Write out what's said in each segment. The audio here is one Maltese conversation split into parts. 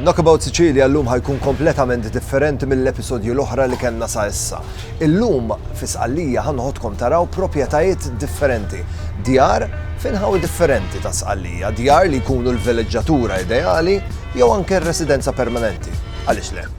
Knockabout Sicilia llum ħajkun kompletament differenti mill-episodji l-oħra li kellna sa issa. Illum fi Sqallija ħanħodkom taraw proprjetajiet differenti, djar f'inħawi differenti ta' Sqallija, djar li jkunu l-vileġġatura ideali jew anke r-residenza permanenti. Għaliex le?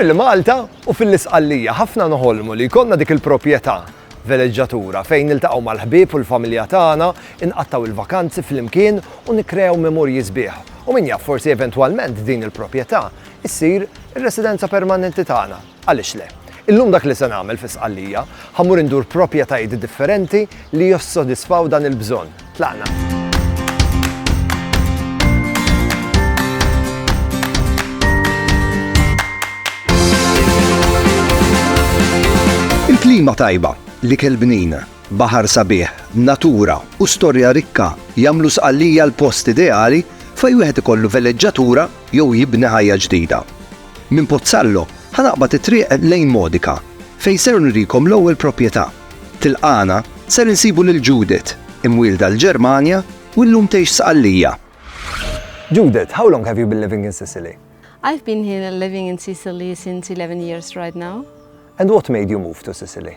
Fil-Malta u fil-Isqallija ħafna noħolmu li jkollna dik il-proprjetà veleġġatura fejn niltaqgħu mal-ħbieb u l-familja tagħna, inqattaw il-vakanzi flimkien u nikkrew memorji sbieħ. U min jaf forsi eventwalment din il-proprjetà issir ir-residenza permanenti tagħna. Għaliex le? Illum dak li se nagħmel fi Sqallija, ħa mmur indur proprjetajiet differenti li jissodisfaw dan il-bżonn. Tlaqna! Klima tajba, li kelbnin, baħar sabiħ, natura u storja rikka jamlu sqallija l-post ideali fej wieħed ikollu veleġġatura jew jibni ħajja ġdida. Minn Pozzallo ħa naqbad it-triq lejn Modica fejn ser nurikom l-ewwel proprjetà. Tilqagħna ser insibu lil Judith, imwielda l-Ġermanja u llum tgħix Sqallija. Judith, how long have you been living in Sicily? I've been here living in Sicily since eleven years right now. And what made you move to Sicily?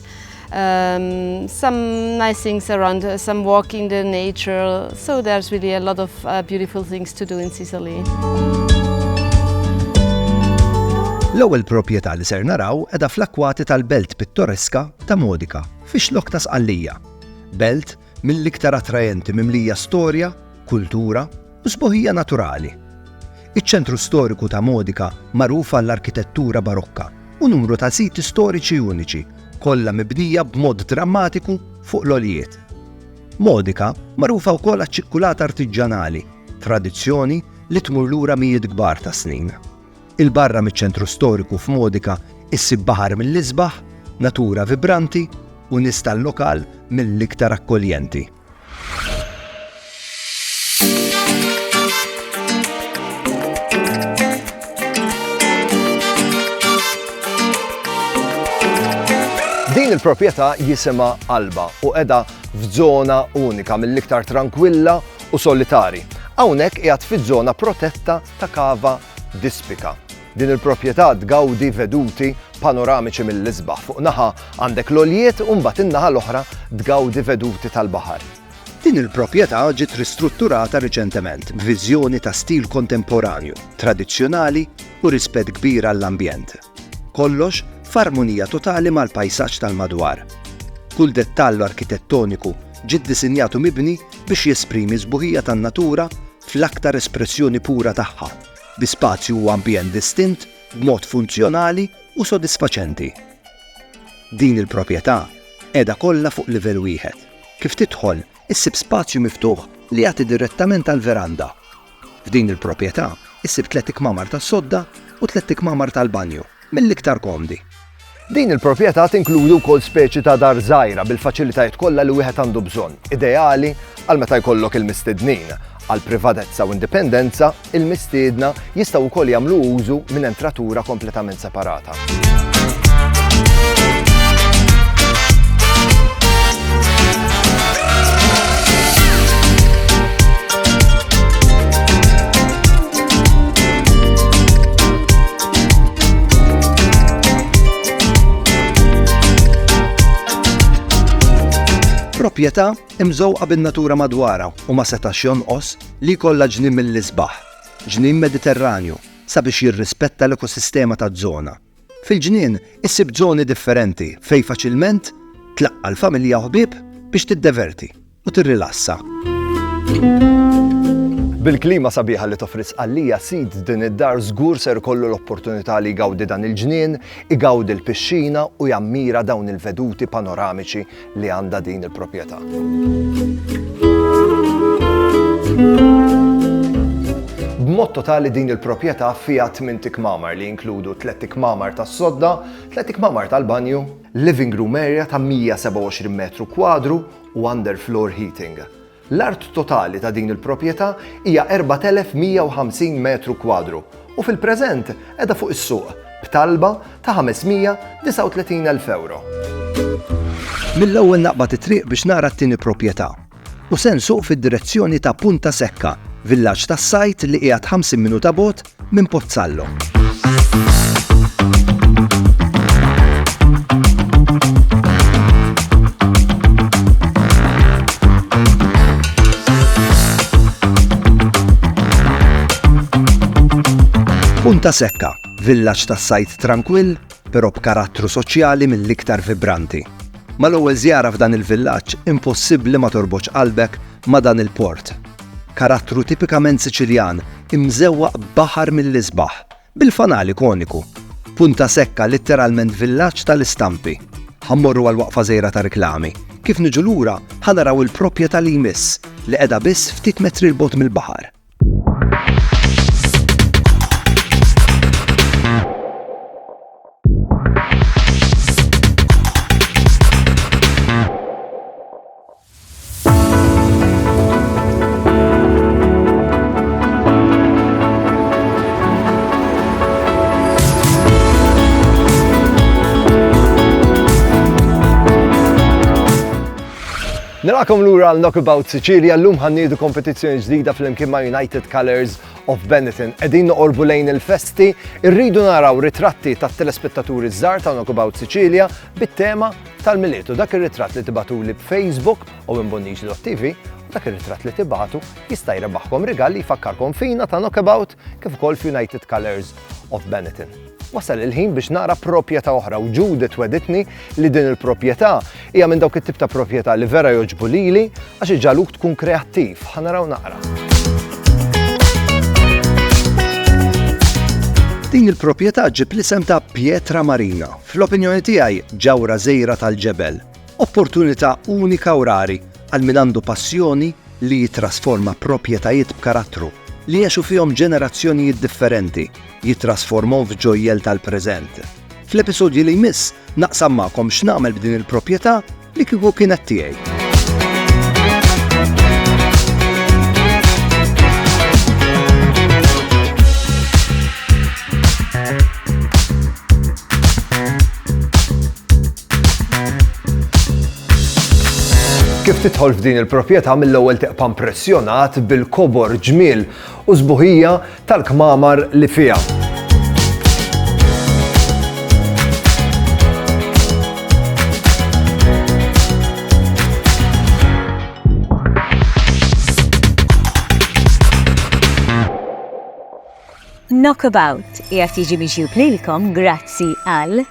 um, some nice things around, uh, some walk in the nature. So there's really a lot of uh, beautiful things to do in Sicily. L-ewwel proprjetà li ser naraw edha fl-akwati tal-belt pittoreska ta' Modika, fix-xlok ta' Sqallija. Belt mill-iktar attraenti mimlija storja, kultura u sbuħija naturali. Iċ-ċentru storiku ta' Modica magħruf għall-arkitettura Barokka u numru ta' siti storiċi uniċi, kollha mibnija b'mod drammatiku fuq l-għoljiet. Modica magħrufa wkoll għaċ-ċikkulata artiġġanali, tradizzjoni li tmur lura mijiet kbar ta' snin. 'Il barra miċ-ċentru storiku f'Modica issib baħar mill-isbaħ, natura vibranti u nies tal-lokal mill-iktar akkoljenti. Din il-proprjetà jisimha Alba u qiegħda f'żona unika mill-iktar trankwilla u solitari. Hawnhekk qiegħed fiż-żona protetta ta' Cava d'Ispica. Din il-proprjetà tgawdi veduti panoramiċi mill-isbaħ, fuq naħa għandek l-għoljiet u mbagħad in-naħa l-oħra tgawdi veduti tal-baħar. Din il-proprjetà ġiet ristrutturata riċentement b'viżjoni ta' stil kontemporanju, tradizzjonali u rispett kbir għall-ambjent. Kollox f'armonija totali mal-pajsaġġ tal-madwar. Kull dettall arkitettoniku ġie ddisinjat u mibni biex jesprimi s-sbuħija tan-natura fl-aktar espressjoni pura tagħha, bi spazju u ambjent distint b'mod funzjonali u sodisfaċenti. Din il-proprjetà qiegħda kollha fuq livell wieħed. Kif tidħol, issib spazju miftuħ li jagħti direttament għall-veranda. F'din il-proprjetà ssib tliet ikmamar tas-sodda u tliet ikmamar tal-banju. mill-iktar komdi. Din il-proprjetà tinkludi wkoll speċi ta' dar żgħira bil-faċilitajiet kollha li wieħed għandu bżonn, ideali għal meta jkollok il-mistednin. Għal privatezza u indipendenza, il-mistiedna jistgħu wkoll jagħmlu użu minn entratura kompletament separata. proprjetà imżewqa bin-natura madwarha u ma setax jonqos li jkollha ġnien mill-isbaħ, ġnien Mediterranju, sabiex jirrispetta l-ekosistema taż-żona. Fil-ġnien issib żoni differenti fejn faċilment tlaqqa' l-familja u ħbieb biex tiddeverti. u tirrilassa. Bil-klima sabiħa li toffri sqallija sid din id-dar żgur ser kollu l-opportunità li jgawdi dan il-ġnien, igawdi l-pixxina u jammira dawn il-veduti panoramiċi li għandha din il-proprjetà. B'mod totali din il-proprjetà fiha tmien tikmamar li jinkludu tliet tikmamar tas-sodda, tliet tikmamar tal-banju, living room area ta' 127 metru kwadru u underfloor heating. L-art totali ta' din il-proprjetà hija 4,150 metru kwadru u fil-preżent qiegħda fuq is-suq b'talba ta' 539,000 ewro. Mill-ewwel naqbad it-triq biex nara t-tieni proprjetà u se nsuq fid-direzzjoni ta' Punta Secca, villaġġ tas-sajd li qiegħed 50 minuta bogħod minn Pozzallo. Punta Sekka, villaġġ tas-sajd trankwill, però b'karattru soċjali mill-iktar vibranti. Mal-ewwel żjara f'dan il-villaġġ impossibbli ma torbotx qalbek ma' dan il-port. Karattru tipikament Siċiljan imżewwaq b'baħar mill-isbaħ, bil-fanali koniku. Punta Secca litteralment villaġġ tal-istampi. Ħa mmorru għal waqfa żgħira ta' riklami. Kif niġu lura, ħa naraw il-propjetà li jmiss, li qiegħda biss ftit metri 'l bogħod mill-baħar. Nilaqkom lura għal Knockabout Sicilia l-lum ħannidu kompetizzjoni ġdida fl-imkien ma' United Colors of Benetton. Edin noqorbu lejn il-festi, irridu naraw ritratti ta' telespettaturi żgħar ta' Knockabout Sicilia bit-tema Tal-Milied u dak ir-ritratt li tibagħtuli b'FaceBook u minn bonnici.tv u dak ir-ritratt li tibagħtu jista' jrebaħkom rigal li jfakkarkom fina ta' Knockabout kif ukoll f'United Colours of Benetton. Wasal il-ħin biex nara proprjetà oħra u Judith wegħditni li din il-proprjetà hija minn dawk it-tip ta' proprjetà li vera jogħġbu lili għax iġagħluk tkun kreattiv. Ħa naraw naqra. Din il-proprjetà ġġib l-isem ta' Pietra Marina Fl-opinjoni tiegħi Ġawhra Żgħira tal-Ġebel, opportunità unika u rari għal min għandu passjoni li jittrasforma proprjetajiet b'karattru li għexu fihom ġenerazzjonijiet differenti, jittrasformhom f'ġojjel tal-preżent. Fl-episodji li jmiss naqsam magħkom x'nagħmel b'din il-proprjetà Li kieku kienet tiegħi. Kif titħol f'din il-proprjetà mill-ewwel teqpa' impressjonat bil-kobor ġmiel u sbuħija tal-kmamar li fiha. Knockabout qiegħed jiġi miġjub lilkom grazzi għal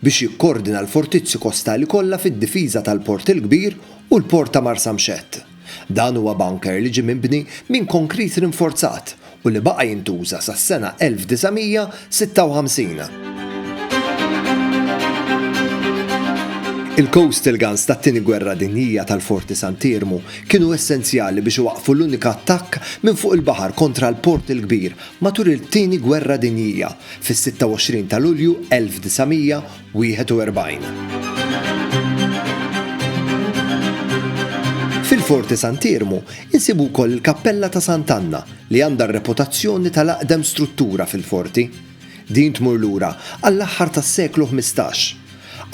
biex jikkoordina l-fortizzi kostali kollha fid-difiża tal-Port il-Kbir u l-Port ta' Marsamxett. Dan huwa bunker li ġie mibni minn konkrit rinforzat u li baqa' jintuża sas-sena 1956. Il-coastal guns tat-Tieni Gwerra Dinjija tal-Forti Sant'Iermu kienu essenzjali biex iwaqqfu l-unika attakk minn fuq il-baħar kontra l-Port il-Kbir Matul it-Tieni Gwerra Dinjija, fis-26 ta' Lulju 1941. Fil-Forti Sant'Iermu insibu wkoll il-Kappella ta' Sant'Anna li għandha r-reputazzjoni tal-aqdem struttura fil-Forti. Din tmur lura għall-aħħar tas-seklu ħmistax.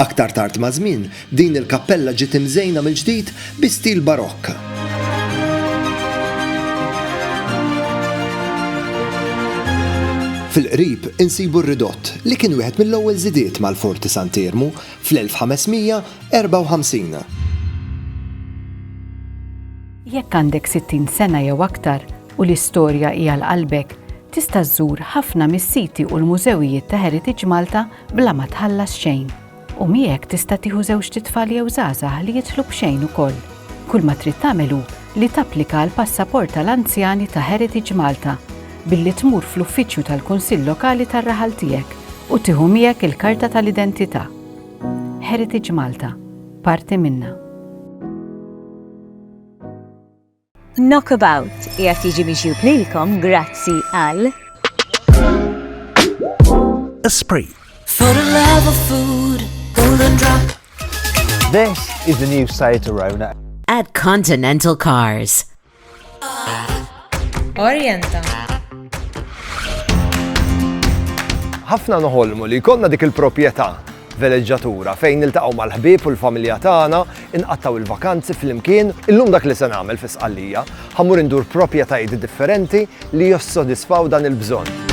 Aktar tard maż-żmien, din il-kappella ġiet imżejna mill-ġdid bi stil Barokk. Fil-qrib insibu r-ridott li kien wieħed mill-ewwel żidiet mal-Forti Sant'Iermu fl-1554. Jekk għandek 60 sena jew aktar u l-istorja hi għal qalbek, tista' żżur ħafna mis-siti u l-mużewijiet ta' Heritage Malta bla ma tħallas xejn, u miegħek tista' tieħu żewġt itfal jew żgħażagħ li jidħlu b'xejn ukoll. Kull ma trid tagħmel hu li tapplika għall-passaport tal-anzjani ta' Heritage Malta billi tmur fl-uffiċċju tal-Kunsill Lokali tar-raħal tiegħek u tieħu miegħek il-karta tal-identità. Heritage Malta, parti minna. Knockabout qiegħed jiġi miġjub lilkom grazzi għal. Esprit. For the love of food, golden drop. This is the new Seat Arona. At Continental Cars. Orienta. Ħafna noħolmu li jkollna dik il-proprjetà Veleġġatura, fejn niltaqgħu mal-ħbieb u l-familja tagħna, inqattgħu l-vakanzi flimkien. Illum dak li se nagħmel fi Sqallija, ħa mmur indur propjetajiet differenti li jossodisfaw dan il-bżonn.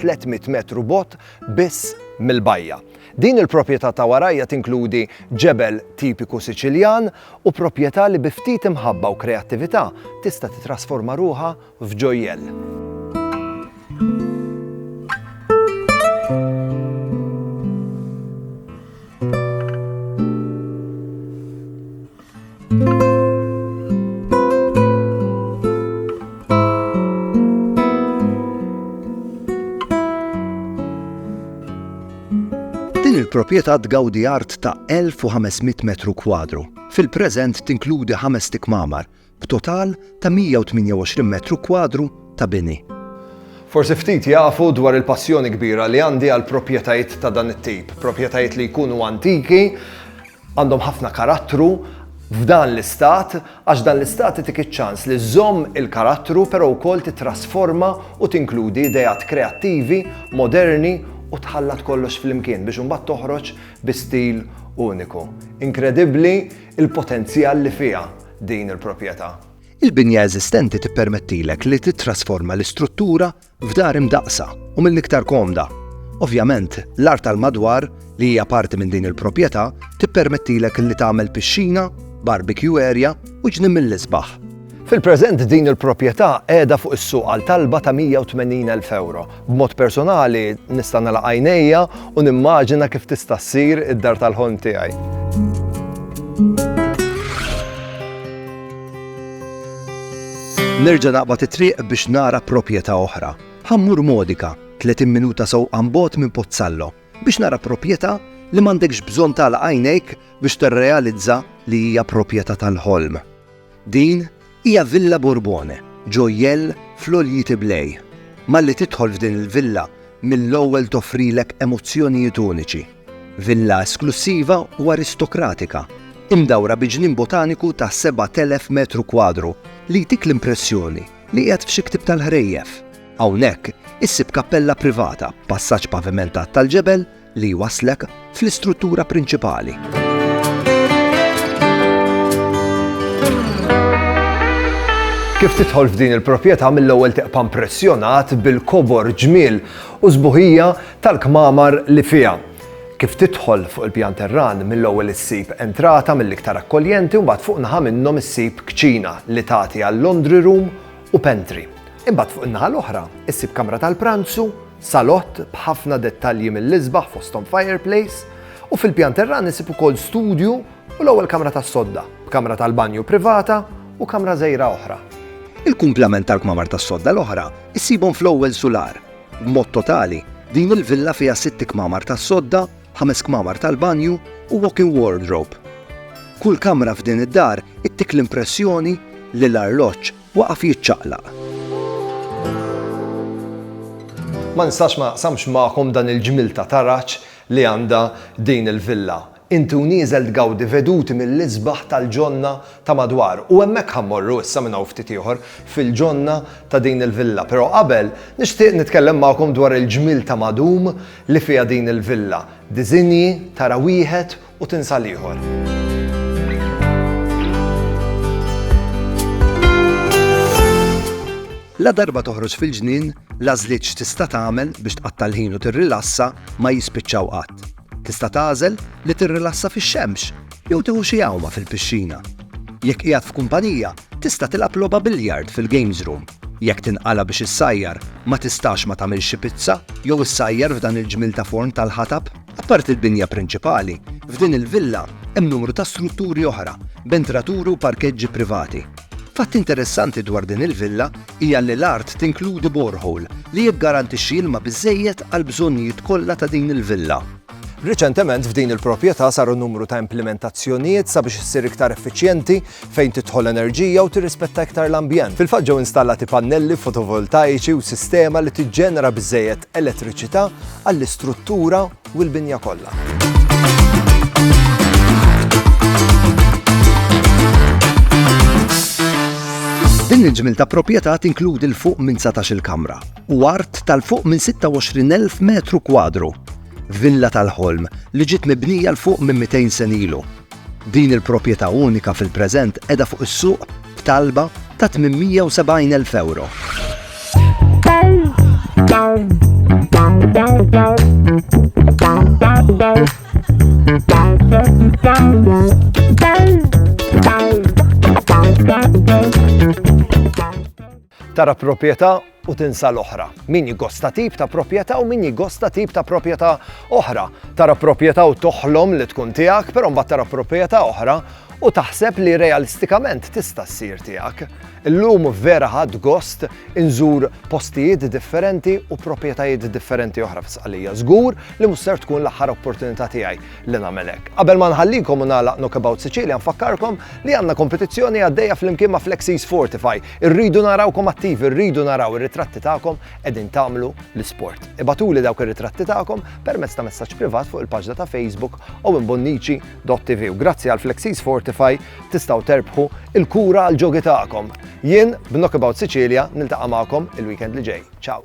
300 metru bogħod biss mill-bajja. Din il-proprjetà ta' warajja tinkludi ġebel tipiku Siċiljan u proprjetà li bi ftit imħabba u kreattività tista' titrasforma ruħha f'ġojjell. il-proprjetà tgawdi art ta' 1500 metru kwadru. Fil-preżent tinkludi ħames tikmamar b'total ta' 128 metru kwadru ta' bini. Forsi ftit jafu dwar il-passjoni kbira li għandi għal proprjetajiet ta' dan it-tip, proprjetajiet li jkunu antiki, Għandhom ħafna karattru f'dan l-istat għax dan l-istat itik iċ-ċans li żżomm il-karattru però wkoll tittrasforma u tinkludi ideat kreattivi, moderni u tħallat kollox flimkien biex imbagħad toħroġ bi stil uniku. Inkredibbli l-potenzjal li fiha din il-proprjetà. Il-binja eżistenti tippermettilek li tittrasforma l-istruttura F'dar imdaqqsa u mill-iktar komda. Ovvjament, l-art tal-madwar, li hija parti minn din il-proprjetà, tippermettilek li tagħmel pixxina, barbecue area u ġnien mill-isbaħ. Fil-preżent din il-proprjetà qiegħda fuq is-suq għal talba ta' 180,000 ewro. B'mod personali nista' nagħlaq għajnejja u nimmaġina kif tista' ssir id-dar tal-ħolm tiegħi. Nerġa' naqbad it-triq biex nara proprjetà oħra. Ħa mmur Modica, 30 minuta sewqan bogħod minn Pozzallo, biex nara proprjetà li m'għandekx bżonn tagħlaq għajnejk biex tirrealizza li hija proprjetà tal-ħolm. Din hija Villa Borbone, ġojjell fl-għoljiet Iblej. Malli tidħol f'din il-villa, mill-ewwel toffrilek emozzjonijiet uniċi. Villa esklussiva u aristokratika, imdawra bi ġnien botaniku ta' 7,000 metru kwadru li jtik l-impressjoni li qiegħed f'xi ktieb tal-ħrejjef. Hawnhekk issib kappella privata b'passaġġ pavimentat tal-ġebel li jwasslek fl-istruttura prinċipali. Kif tidħol f'din il-proprjetà mill-ewwel teqpa' impressjonat bil-kobor ġmiel u sbuħija tal-kmamar li fiha. Kif tidħol fuq il-pjan terran, mill-ewwel issib entrata mill-iktar akkoljenti u mbagħad fuq naħa minnhom issib kċina li tagħti għal laundry room u pantry. Imbagħad fuq in-naħa l-oħra issib kamra tal-pranzu, salott b'ħafna dettalji mill-isbaħ fosthom fireplace, u fil-pjan terran issib ukoll studju u l-ewwel kamra tas-sodda, b'kamra tal-banju privata u kamra żgħira oħra. Il-kumplament tal-kmamar tas-sodda l-oħra ssibhom fl-ewwel sular, B'mod totali, din il-villa fiha sitt kmamar tas-sodda, ħames kmamar tal-banju u walk-in wardrobe. Kull kamra f'din id-dar ittik l-impressjoni li l-arloġġ waqaf jiċċaqlaq. Ma nistax ma naqsamx magħkom dan il-ġmiel ta' taraġ li għandha din il-villa. Inti u nieżel tgawdi veduti mill-isbaħ tal-ġonna ta' madwar u hemmhekk ħa mmorru issa minn hawn ftit ieħor fil-ġonna ta' din il-villa. Però qabel, nixtieq nitkellem magħkom dwar il-ġmiel ta' madum li fiha din il-villa. Diżinji, tara wieħed u tinsa l-ieħor. Ladarba toħroġ fil-ġnien, l-għażliet x'tista' tagħmel biex tqatta' l-ħin u tirrilassa ma jispiċċaw qatt. Tista' tagħżel li tirrilassa fix-xemx jew tieħu xi għawma fil-pixxina. Jekk qiegħed f'kumpanija, tista' tilgħab logħba biljard fil-games room. Jekk tinqala' biex issajjar, ma tistax ma tagħmilx xi pizza jew issajjar f'dan il-ġmiel ta' forn tal-ħatab? Apparti l-binja prinċipali, f'din il-villa hemm numru ta' strutturi oħra b'entraturi u parkeġġi privati. Fatt interessanti dwar din il-villa hija li l-art tinkludi borehole li jiggarantixxi ilma biżżejjed għall-bżonnijiet kollha ta' din il-villa. Riċentement f'din il-proprjetà saru numru ta' implimentazzjonijiet sabiex issir iktar effiċjenti fejn tidħol enerġija u tirrispetta iktar l-ambjent. Fil-fatt ġew installati pannelli fotovoltaiċi u sistema li tiġġenera biżżejjed elettriċità għall-istruttura u l-binja kollha. Din il-ġmiel ta' proprjetà tinkludi l-fuq minn 19-il kamra u art tal-fuq minn 26,000 metru kwadru. Villa tal-ħolm li ġiet mibnija l-fuq minn 200 senilu. Din il-proprjetà unika fil-preżent qiegħda fuq is-suq b'talba ta' 870 elf ewro. Tara proprjetà u tinsa l-oħra. Min jgosta tip ta' proprjetà u min jgosta tip ta' proprjetà oħra. Tara proprjetà u toħlom li tkun tiegħek, però mbagħad tara proprjetà oħra u taħseb li realistikament tista' ssir tiegħek. Illum vera ħadd gost inżur postijiet differenti u proprjetajiet differenti oħra fi Sqalija. Żgur li mhux ser tkun l-aħħar opportunità tiegħi li nagħmel hekk. Qabel ma nħallikom u nagħlaq Knockabout Sicilia nfakkarkom li għandna kompetizzjoni għaddejja flimkien ma' Flexis Fortify Irridu narawkom attivi, rridu naraw ir-ritratti tagħkom qegħdin tagħmlu l-isport. Ibagħtuli dawk ir-ritratti tagħkom permezz ta' messaġġ privat fuq il-paġna ta' Facebook owenbonnici.tv u grazzi għal Flexis Fortify tistgħu terbħu il-kura għall-ġogi tagħkom. Jien b'Knockabout Sicilia niltaqa' magħkom il-weekend li ġej. Ciao!